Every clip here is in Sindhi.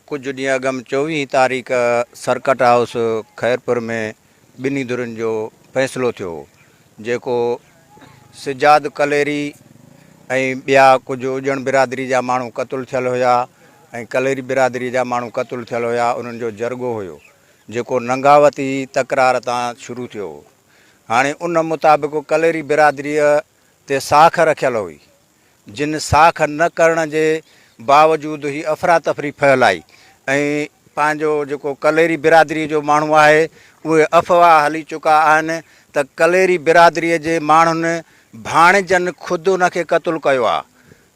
ڪجهه ڏينهن اڳم چوويهين تاريخ سرڪٽ هائوس خيرپور ۾ ٻنهي ڌرين جو فيصلو ٿيو هو جيڪو سجاد ڪليري ۽ ٻيا ڪجهه اڄڻ برادري جا ماڻهو قتل ٿيل هيا ۽ ڪليري برادري جا ماڻهو قتل ٿيل هيا انهن جو جرڳو هيو جيڪو ننگاوتي تڪرار تان شروع ٿيو هو هاڻي ان مطابق ڪليري برادري تي ساک رکيل هئي جن ساک نه ڪرڻ جي باوجود هي افراتفري ڦهلائي ۽ پنهنجو جيڪو ڪليري برادري جو ماڻهو آهي اهي افواهه هلي چڪا آهن ته ڪليري برادري جي ماڻهن ڀاڻيجن خود ان کي قتل ڪيو آهي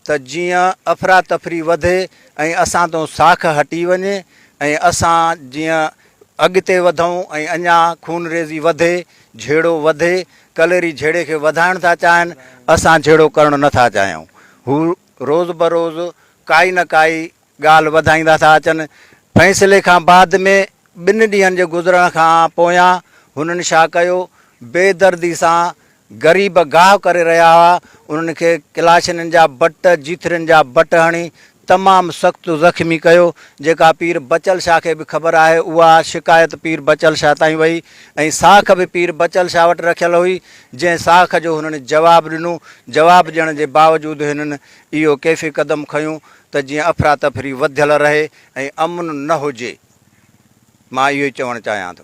ته جيئن افراتفري وڌي ۽ اسان تان ساک هٽي وڃي ۽ اسان جيئن اڳتي وڌون ۽ اڃا خونريزي وڌي، جهيڙو وڌي، ڪليري جهيڙي کي وڌائڻ ٿا چاهن، اسان جهيڙو ڪرڻ نه ٿا چاهيون. هو روز بروز ڪائي نه ڪائي ڳالهه وڌائيندا ٿا اچن. فيصلي کان بعد ۾ ٻن ڏينهن جي گذرڻ کان پويان هنن شا ڪيو، بي دردي سان غريب گاهه ڪري رهيا هئا، انهن کي ڪلاشنن جا بٽ، جيٿرين جا بٽ هڻي تمام سخت زخمي ڪيو، جيڪا پير بچل شاهه کي به خبر آهي، اها شڪايت پير بچل شاهه تائين وئي ۽ ساک به پير بچل شاهه وٽ رکيل هئي، جنهن ساک جو هنن جواب ڏنو، جواب ڏيڻ جي باوجود هنن اهو ڪيفي قدم کنيو ته جيئن افراتفري وڌيل رهي ۽ امن نه هجي، مان اهو ئي چوڻ چاهيان ٿو.